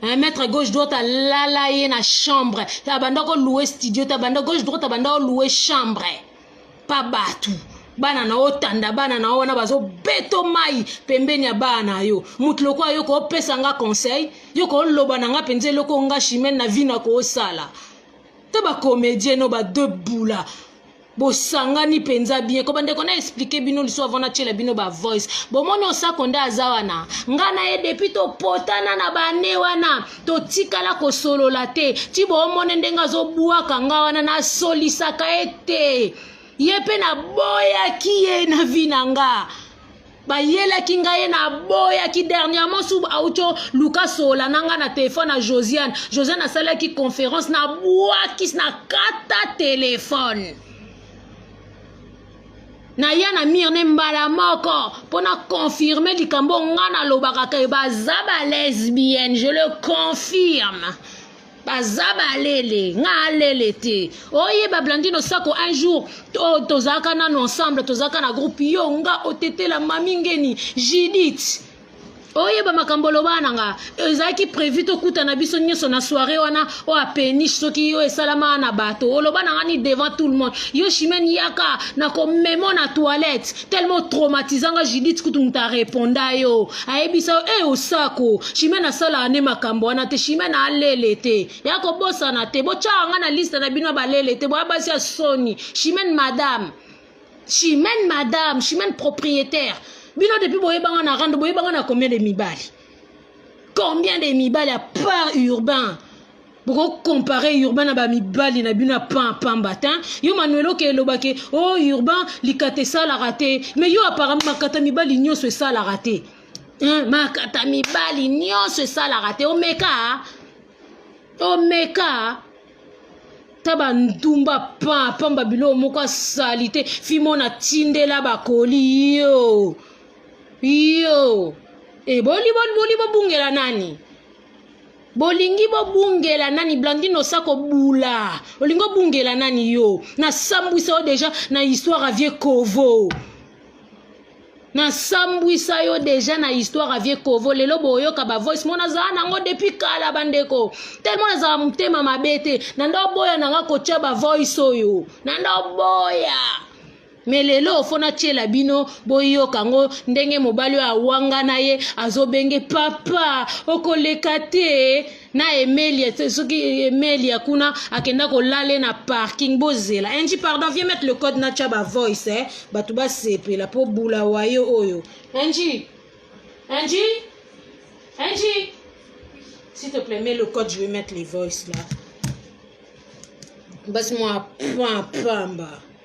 Un maître gauche droite alala ye na chambre abanda ko loue studio te abanda gauche droite abanda ko loue chambre pa bato bana na yo tanda bana na yo wana bazobeto mai pembeni ya bana na yo moto lokola yo koopesa nga conseil yo kooloba na nga mpenza eloko nga chimene na vi na koosala to bacomédien no badebula bosangani mpenza bien ko bandeko na explike bino liso avant natyela bino ba voice bomoni osako nde aza wana ngai na ye depuis topotana na bane wana totikala kosolola te ti boomone ndenge azobwaka ngai wana nasolisaka ye te ye mpe naboyaki ye na vi na ngai bayelaki ngai ye naboyaki dernièrement su auco luka sola na ngai na telefone ya josiane josiane asalaki conférence nabwakisi na kata telefone naya na mire ne mbala moko mpo na confirme likambo ngai nalobaka ke baza balesbienne je le confirme baza balele nga alele te oyeba blandino sako un jour to, tozalaka nano ensemble tozalaka na groupe yo nga otetela mami ngeni judith oyeba makambo oloba na nga ezalaki prévu tokutana biso nyonso na soirée wana oyo apeniche soki yo esalama na bato oloba na ngani devant tout le monde yo chimene yaka na komemo na toilette tellement traumatisa nga judith kutu moto areponda yo ayebisa yo e osako chimene asalaka nde makambo wana te chimene alele te ya kobosana te botyaka nga na liste na bino ya balele te boya basi ya soni chimene madame chimene madame chimene propriétaire bino depuis boyebanga na rando boyebanga na combien de mibali combien de mibali à part urbain boko compare urbain na bamibali na bino ya pan pamba te yo manuelo ke elobake o oh, urbain likata esalaka te mais yo apparemment makata mibali nyonso esalaka te makata mibali nyonso esalaka te omeka omeka ta bandumba pan pamba biloko moko asali te fimo natindela bakoli yo yo eboli eh, boli bobungela nani bolingi bobungela nani blandine osa kobula olingi obungela nani yo nasambwisa yo deja na histoire avie kovo nasambwisa yo deja na histoire avie kovo lelo boyoka bavoice mo nazala nango depuis kala bandeko telema nazala motema mabe te nanda oboya nanga kotya bavoice oyo nanda oboya me lelo fo natyela bino boyoka yango ndenge mobali oyo awangana ye azobenge papa okoleka te na emelia soki emelia kuna akenda kolale na parking bozela enji pardon vie mete le code natya bavoice eh? bato basepela mpo bula wayo oyo enji enji enji s'il te plaît mets le code je vais mettre les voice là basi mwa pamba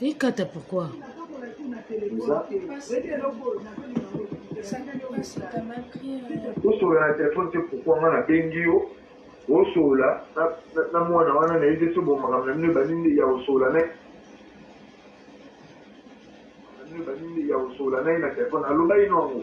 Ikata pourquoi? Osolola na telefone te pourquoi nga nabengi yo osolola na mwana wana na yebisi bo makambo na bino ebandi nde ya osolola na ebandi nde ya osolola na ye na telefone aloba ino yango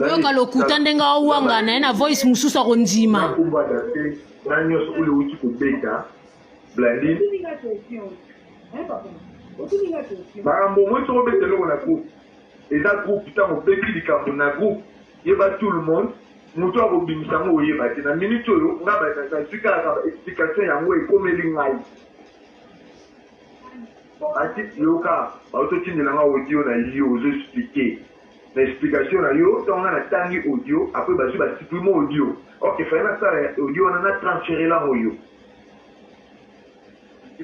yoka lokuta ndenge awanga na ye na voice mosusu akondima na nyonso oyo ewuti kobeta blandin makambo moi soko obeta eloko na groupe eza groupe ntango obeti likambo na groupe yeba tout le monde moto akobimisa yango oyeba te na minute oyo nga nazwi kaka ba explication yango ekomeli ngai ati yoka baototindela nga audio na yo ozo explike na explication na yo tango nga na tangi audio après bazui ba supprime audio or que fallait na sala audio wana na transferer lango yo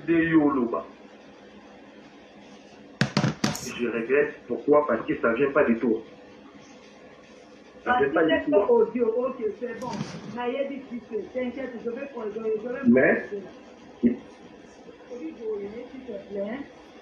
de yo oloba je regrette pourquoi parce que ça vient pas de toi mais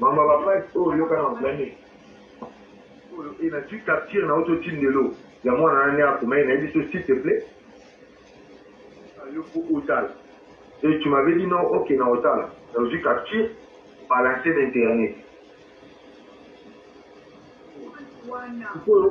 mama bapage oyo yoka na blani oyo e na twi capture na oto ti ndelo ya mwana nani akomaki na ye biso s'il te plaît yo po otala e tu m'avais dit non ok na otala na ozwi capture balancer na internet sikoyo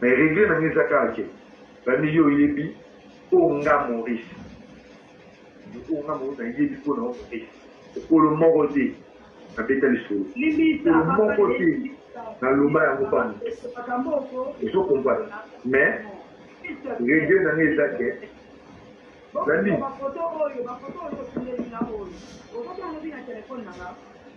Mais regret na nga eza kaka ke bambi yo oyebi oyo nga Maurice oyo nga Maurice nayebi mpo na yo Maurice okolo moko te nabeta lisolo okolo moko te naloba yango mpa moto ezo comprendre mais regret na nga eza ke bambi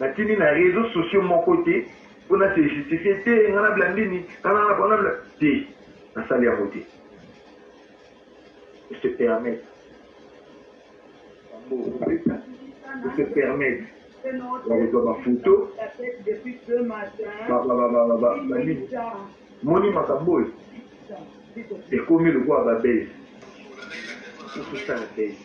Na tindi na reseaux sociaux moko te po na se justifier te nga na blandini nga na nga na te na sali yango te se permettre yango opesa pour se permettre bakozwa bafoto moni makambo oyo ekomi lokola babese ososala bese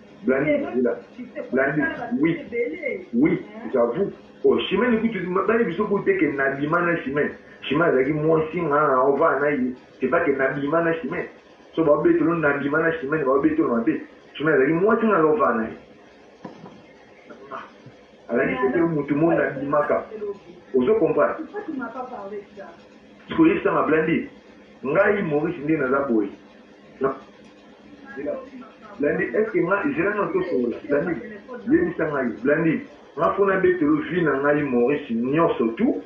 Blandy zila blandy oui oui j'avoue oh chimene kutu bani biso kutu te ke na bima na chimene chimene azalaki mwasi nga on va na ye c'est pas que na bima na chimene so ba betolo na bima na chimene ba betolo na be chimene azalaki mwasi nga on va na ye azalaki se te mutu mo na bimaka ozo comprendre sikoyebisa nga blandy ngai maurice nde naza boye Blandi est ce que nga zela na to songola Blandi yebisa ngai Blandi nga fona betelo vie na ngai Maurice nyonso tout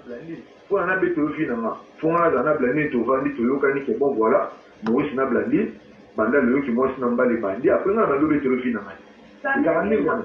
Blandi mpo na betelo vie na nga mpo nga nazala na Blandi tovandi toyokani ke bon voilà Maurice na Blandi banda loyoki mwasi na mbale bandi après nga na bando betelo vie na ngai ezalaka ndenge wana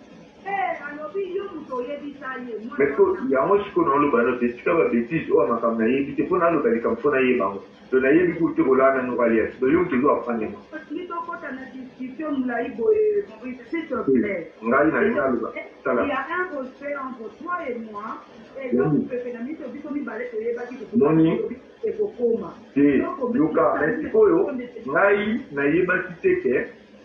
Mais po yango sikoyo na oloba nao te tika ba betise oyo makambo na yebi te po na loba likambo po na yeba yango to na yebi kutu te ko laa nanu alias donc yo mutu ozo apprendre nga ngai na lingi na loba tala moni te yoka mais sikoyo ngai na yebaki te ke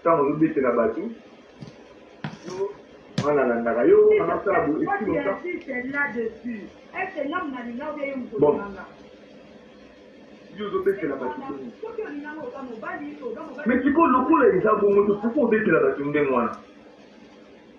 Ntango ozobetela bato wana alandaka yo anasala boye esi longa bon yo ozobetela bato ndenge mais sikoyo lokola eza bongo tokoki kobetela bato ndenge wana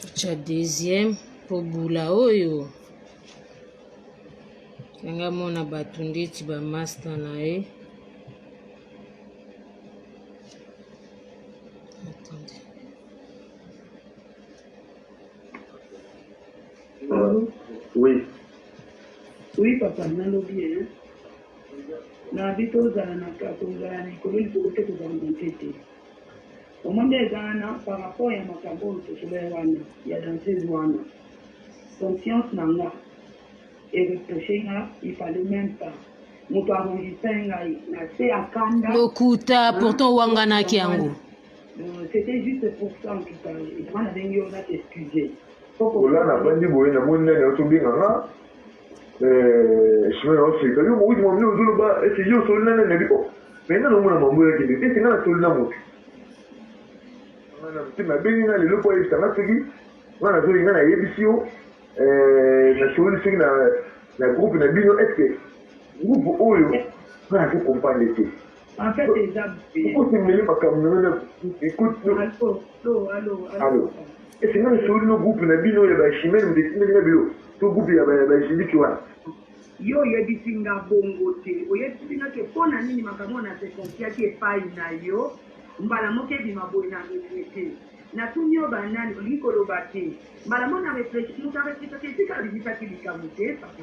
totya deuxième mpo bula oyo nanga mona bato ndeti bamasta na ye Oui. Oui, papa, nalobi, hein. Nabi tozala na kozala na likolo likolo te kozala na nse te vraiment nde eza wana par rapport ya makambo oyo tosolai wana ya danseuse wana conscience na nga ereproche nga il fallait même pas moto arrondisa ngai na se ya kanda lokuta pourtant owanganaki yango euh, c'était juste pour ça en tout cas vraiment nabengi yo na t'excuser ola na bandi boye namoni nani aotobenga nga Eh, chemin ya afrika yo mowiti mambi ozoloba ete yo osoli na nani abi o me nga naomona mambo yakende ete nga nasoli na moto nga na motema abengi nga lelo mpo ayebisa nga soki nga nazoli nga nayebisi yo eh, nasoli soki na na groupe na bino eske groupe oyo nga nazo comprendre te En fait eza mabe. Pourquoi tu mêles ma camionnette Écoute, non. Allô, allô, allô. Allô. Et c'est même sur le groupe na bino ya ba chimel mu desine na bio. To groupe ya ba ba jindiki wa. Yo oyebisi nga bongo te. Oyebisi nga ke pona nini makambo na se confiaki epai na yo mbala moko ebima boye na regrete. Natuni yo banani olingi koloba te. Mbala moko na reflechi moto areflechaki esika abimisaki likambo te papa.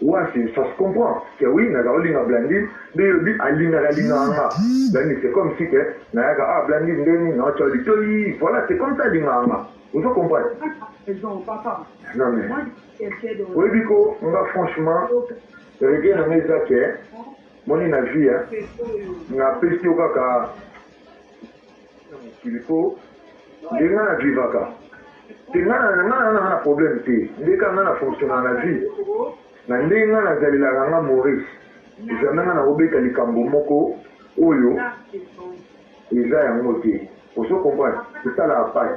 Wasi ça se comprend que oui naza kolinga Blandine nde yo olobi alingaka lingaka nga Blandine c'est comme si que nayaka ah Blandine nde nini naotia yo litoyi voilà c'est comme ça alingaka nga ozo comprendre non mais oyebi ko nga franchement regret na nga eza que moni na vie napesi yo kaka il faut nde nga na vivaka te nga na nga na nga na problème te nde ka nga na fonctionnaka na vie na ndenge nga na zalelaka nga Maurice ezambe nga na obeta likambo moko oyo eza yango te ozo comprendre esala apart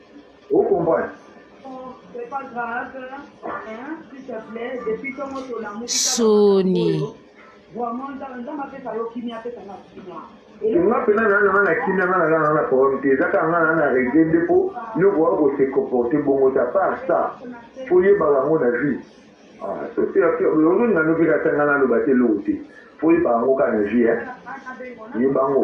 Vous comprenez Soni. nga mpena naa nanga na kimia nga naza nanga na problème te eza kaka nga naa na regle nde mpo nyoko oya kose comporte bongo ta part ça fo yebaka yango na vie ozoningano mpe kata nga naloba te eloko te fo yebaka yango kaka na vie yeba yango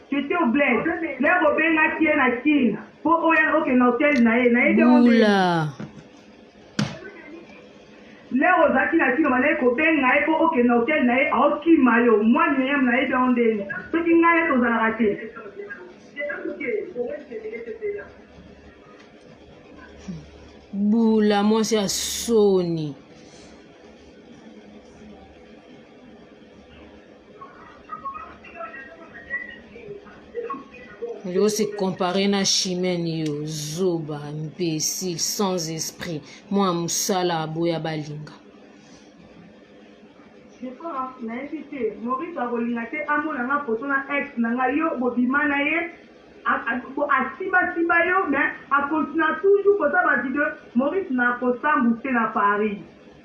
J'etais au bled lè bo bengaki ye na kin po oya oke na hotel na ye nayebi yango ndenge nini? Bula. Lè ozalaki na kin obandaki ko benga ye po oke na hotel na ye ao kima yo mwa Miriam nayebi yango ndenge nini? Soki ngai na tozalaka te. Bula mwasi ya soni. yo se comparer na chimene yo zoba imbécile sans esprit mwa mosala aboya balinga nayebi te maurice akolinga te amona nga foto na ex na nga yo bobima na ye asimbasimba yo mais akontina toujours koza bavideo maurice nakosambuse na paris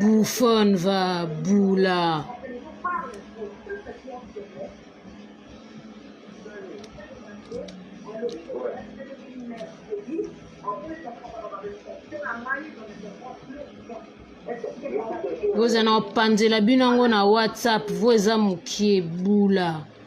Buffon va bula. boza na opanzela bino yango na whatsapp vo eza mokie bula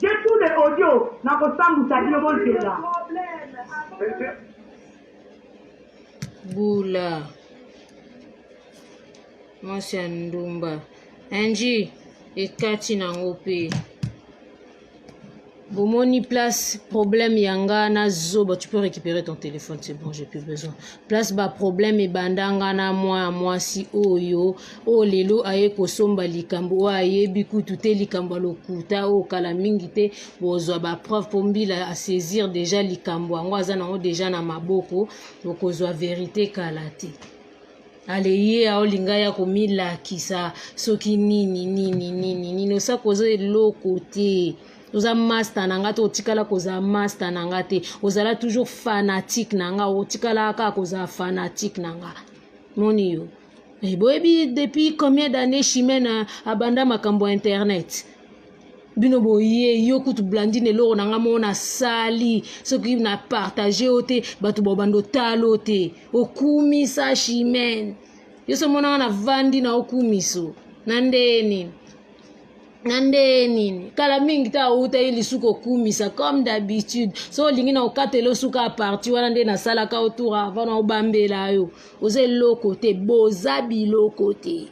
J'ai tout le audio nako sambusa bino bo zela. Bula mwasi ya ndumba enji ekati nango mpe bomoni place problème ya nga na zoba tu peux récupérer ton téléphone c'est bon j'ai plus besoin place ba problème ebanda nga na mwa ya mwasi oyo oyo lelo aye kosomba likambo oyo ayebi kutu te likambo ya lokuta oyo kala mingi te bozwa bapreuve mpo mbila asaisir deja likambo yango aza nango deja na maboko okozwa verite kala te aleye aolinga ya komilakisa soki nini nini nini nini osaka oza eloko te oza masta na nga te otikala kozala masta na nga te ozala toujours fanatique na nga otikala kaka kozala fanatique na nga moni yo Eh, boyebi depuis combien d'année chimene abanda makambo ya internet bino boye yo kutu blandine eloko na ngai moko nasali soki na partage yo te bato bobanda otalo te okumisa chimene yo so monanga na vandi na okumiso na ndenge nini na ndeye nini kala mingi te awutaki lisu kokumisa comme d'habitude so olingi na okatela osuka ya parti wana nde nasalaka otour avant na obambela yo oza eloko te boza biloko te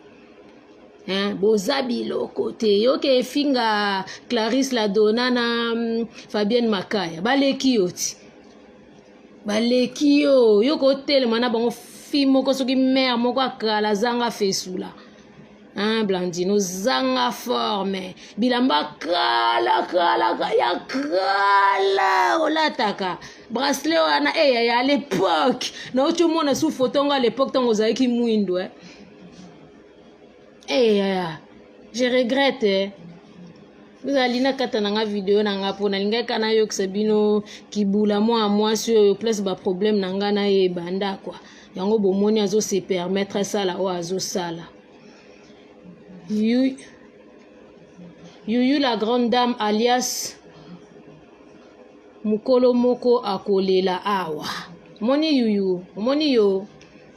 hein, boza biloko te yoke efinga clarisse la dona na mm, fabienne makaya baleki yo ti baleki yo yoke otelema na bango fi moko soki mare moko akala azanga fesula Hein, Blandine, ozanga forme. Bilamba kala kala ya kala olataka. Bracelet wana eh ya, ya l'époque. Na ocho mona sous photo nga l'époque tango ozalaki mwindo eh. Eh ya ya. Je regrette eh. ozali nakata na nga video na nga mpo nalingaki kaka nayokisa bino kibula mwa mwasi oyo place baproblème na nga nayeba ndakwa yango bomoni azo se permettre asala oyo azosala yuyu la grande dame alias mokolo moko akolela awa omoni yuyu omoni yo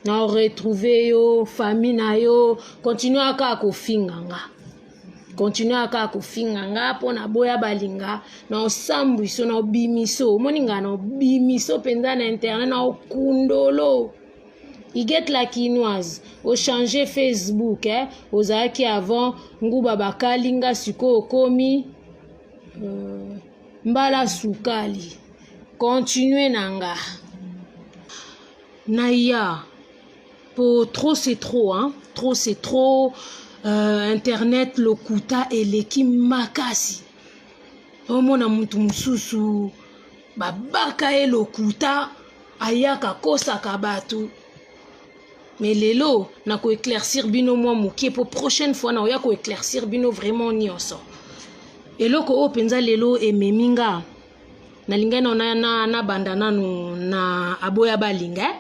na retrouve yo famille na yo continue aka kofinga nga continue kaka kofinga nga mpo naboya balinga na osambwiso na obimiso omoni nga na obimiso mpenza na internet na okundolo iget la kinoise ochange facebook eh? ozalaki avant nguba bakali nga sikoyo okomi euh, mbala sukali continue na nga naya po trop c'est trop hein? trop c'est trop euh, internet lokuta eleki makasi omona mutu mosusu babaka ye lokuta ayaka akosaka bato mais lelo na koeclaircir bino mwa moke mpo prochaine fois nakoya koeclaircir bino vraiment nyonso eloko oyo mpenza lelo ememi nga nalingai nabanda nanu na aboya balinga eh?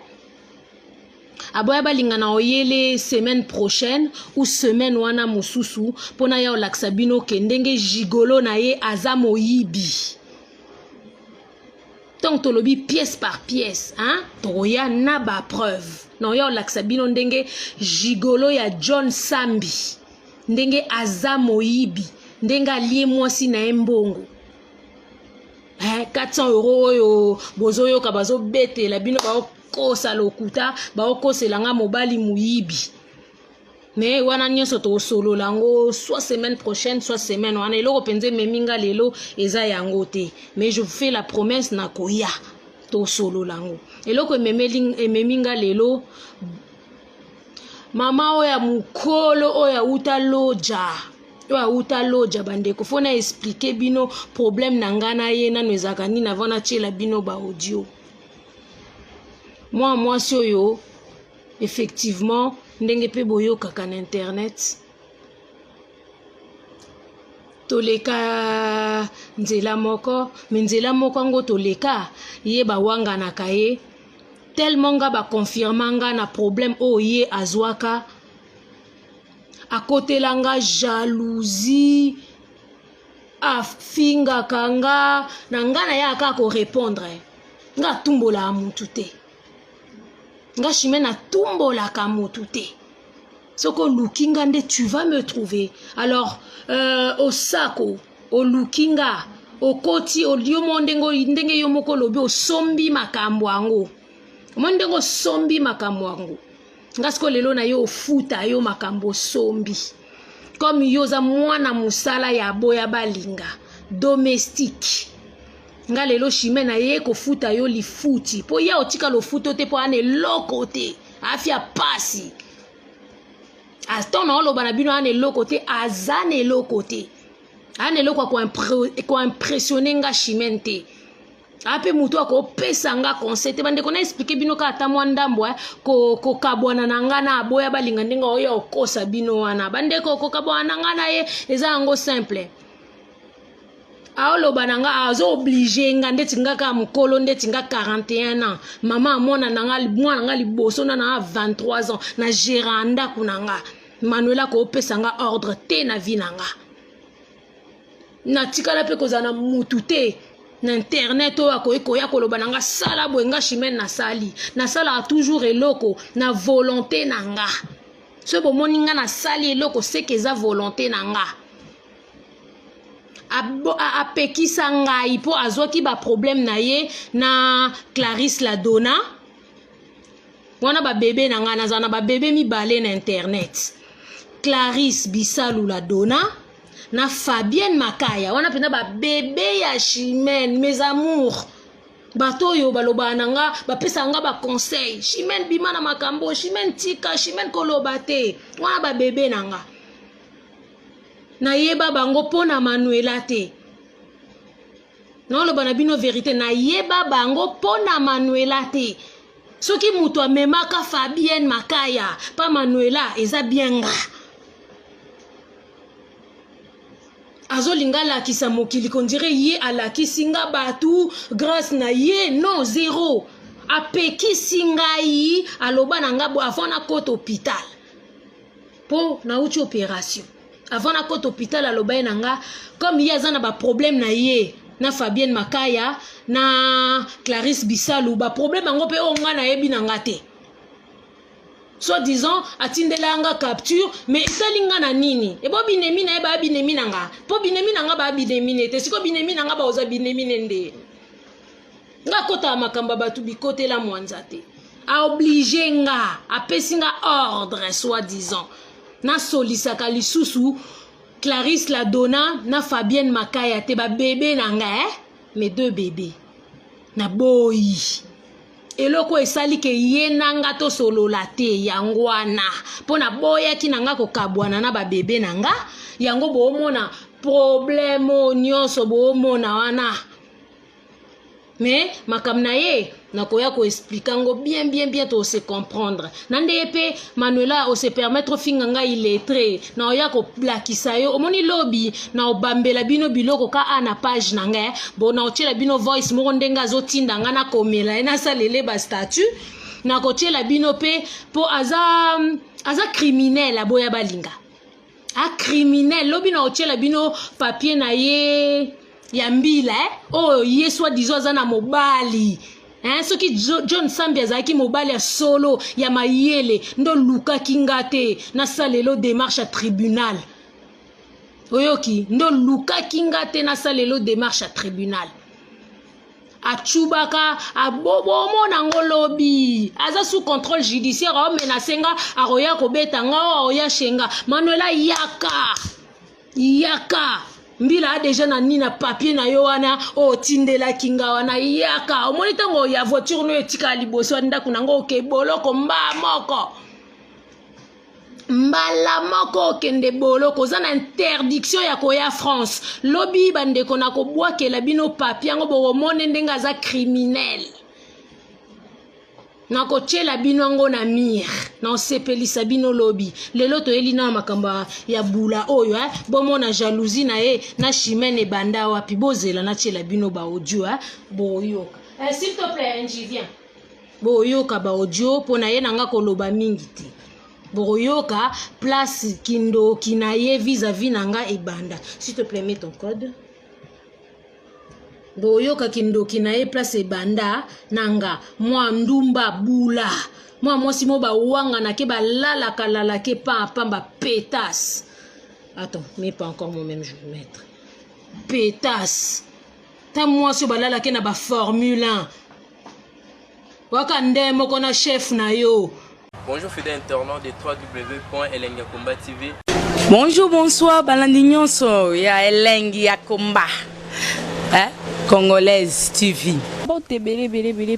aboya balingana oyele semaine prochaine ou semaine wana mosusu mpo na ya olakisa bino ke ndenge gigolo na ye aza moyibi ntango tolobi pièce par pièce hein? tokoya na bapreuve na oya olakisa bino ndenge gigolo ya john sambi ndenge aza moyibi ndenge alie mwasi na ye mbongo eh, 400 euro oyo bozoyoka bazobetela bino bao kosa lokuta baokosela nga mobali moyibi me wana nyonso tokosolola yango soit semaine prochaine soit semaine wana eloko mpenza ememi nga lelo eza yango te mais je vous fais la promesse na koya tosolola yango eloko ememi nga lelo mama oyo ya mokolo oyo awuta loja oyo awuta loja bandeko fo na explike bino problème na ngai na ye nano ezalaka nini avant natyela bino baaudio mwana mwasi oyo effectivement ndenge mpe boyokaka na internet toleka nzela moko me nzela moko yango toleka ye bawanganaka ye tellement nga baconfirma nga na problème oyo oh, ye azwaka akotela nga jalousie afingaka nga na nga na yaka kaka korepondre nga atumbolaka mutu te nga shime natumbolaka mutu te soki oluki nga nde tu vas me trouver alors euh, osako oluki nga okoti yo mo ndenge ndenge yo moko olobi osombi makambo yango omoni ndenge osombi makambo yango nga sikoyo lelo na yo ofuta yo makambo osombi comme yo oza mwana mosala ya aboya balinga domestique nga lelo chime na ye kofuta yo lifuti mpo ya otika lofuto te mpo ana eloko te afya pasi aton na oloba na bino ana eloko te aza na eloko te ana eloko ya koimpressione nga chimene te ape moto akopesa nga conseil te bandeko na explike bino kaka ata mwa ndambo eh, kokabwana na nga na aboya balinga ndenge oyo okosa bino wana bandeko kokabwana na nga na ye eza yango simple aoloba na nga azo oblige nga ndeti nga kaka mokolo ndeti nga 41 ans mama amona na nga mwana nga liboso na na 23 ans na gera ndako na nga manuela koopesa nga ordre te na vie na nga natikala mpe kozala na mutu te na internet oyo akoki koya koloba na nga sala boye nga chimene nasali nasalaka toujours eloko na volonté na nga soki bomoni nga nasali eloko seke eza volonté na nga apekisa ngai mpo azwaki baproblème na ye na clarisse ladona wana babebe na ngai nazala na babebe mibale na internet clarisse bisalula dona na fabienne makaya wana mpenza babebe ya chimene mes amours bato oyo balobaka na nga bapesaka nga baconseil chimene bima na makambo chimene tika chimene koloba te wana babebe na nga nayeba bango mpo na manuela te naoloba na bino verite nayeba bango mpo na manuela te soki moto amemaka fabienne makaya mpa manuela eza bien nga azolinga alakisa mokili kondire ye alakisi nga bato grâce na ye non zero apekisi ngai aloba na nga bo avant nakota hôpital mpo nauti opération avant nakota hôpital aloba ye na nga comme ye aza na baproblème na ye na fabienne makaya na clarisse bisalu baproblème yango mpe oyo ngai nayebi na nga te soit disant atindela nga capture mais esali nga na nini ebo binemi na ye baya binemi na nga mpo binemi na nga baya binemi na ye te sikoyo binemi na nga baoza binemi ne nde nga akotaka makambo ya bato bikotela mwanza te aoblige nga apesi nga ordre soi disant nasolisaka lisusu clarisse la dona na fabienne makaya te babebe na nga eh? mes deux bebe naboyi eloko esali ke ye na nga tosolola te yango wana mpo naboyaki na nga kokabwana na babebe na nga yango boomona problemo nyonso boomona wana mais makambo na ye nakoya koexplike yango bien bien bien tose comprendre na ndeye mpe manuela ose permettre ofinga ngai illettre na oya kolakisa yo omoni lobi na obambela bino biloko ka a na page na ngai bo na otyela bino voice moko ndenge azotinda ngai nakomela ye nasalele bastatut nakotyela bino mpe mpo aza aza criminel aboya balinga a criminel lobi na otyela bino papie na ye ya mbila eh? oyo oh, ye soi disant aza na mobali eh? soki john sambi azalaki mobali ya solo ya mayele nde olukaki nga te nasalelo démarche ya tribunal oyoki nde olukaki nga te nasalelo démarche ya tribunal achubaka abobomona ngo lobi aza sous contrôle judiciaire aomenase nga akoya kobeta nga o aoya shenga manuela yaka yaka mbila a deja na nini na papie na yo wana otindelaki nga wana yaka omoni ntango ya voiture no etikala liboso ya ndako na ngo oke boloko mba moko mbala moko okende boloko oza na interdiction ya koya france lobi bandeko na kobwakela bino papi yango bokomone ndenge aza criminel nakotyela bino yango na mire naosepelisa bino lobi lelo toyeli na makambo ya bula oyo eh? bomona jalousie na ye na chimene ebanda wapi bozela natyela bino baaudio eh? boyoka eh, s'il te plaît njivien boyoka baaudio mpo na ye na nga koloba mingi te bokoyoka place kindoki na ye vis-à-vis na nga ebanda s'il te plaît mets ton code boyoka kindoki na ye place ebanda na nga mwa ndumba bula mwa mwasi mo bawanganake balalaka lalake pampamba pétasse attends mais pas encore mon même jour maître pétasse ta mwasi oyo balalaki na baformule 1 waka nde moko na chef na yo bonjour fidèle internaute de 3 w elengi ya komba tv bonjour bonsoir balandi nyonso ya elengi ya komba eh? congolaise tv bato ebele ebele ebele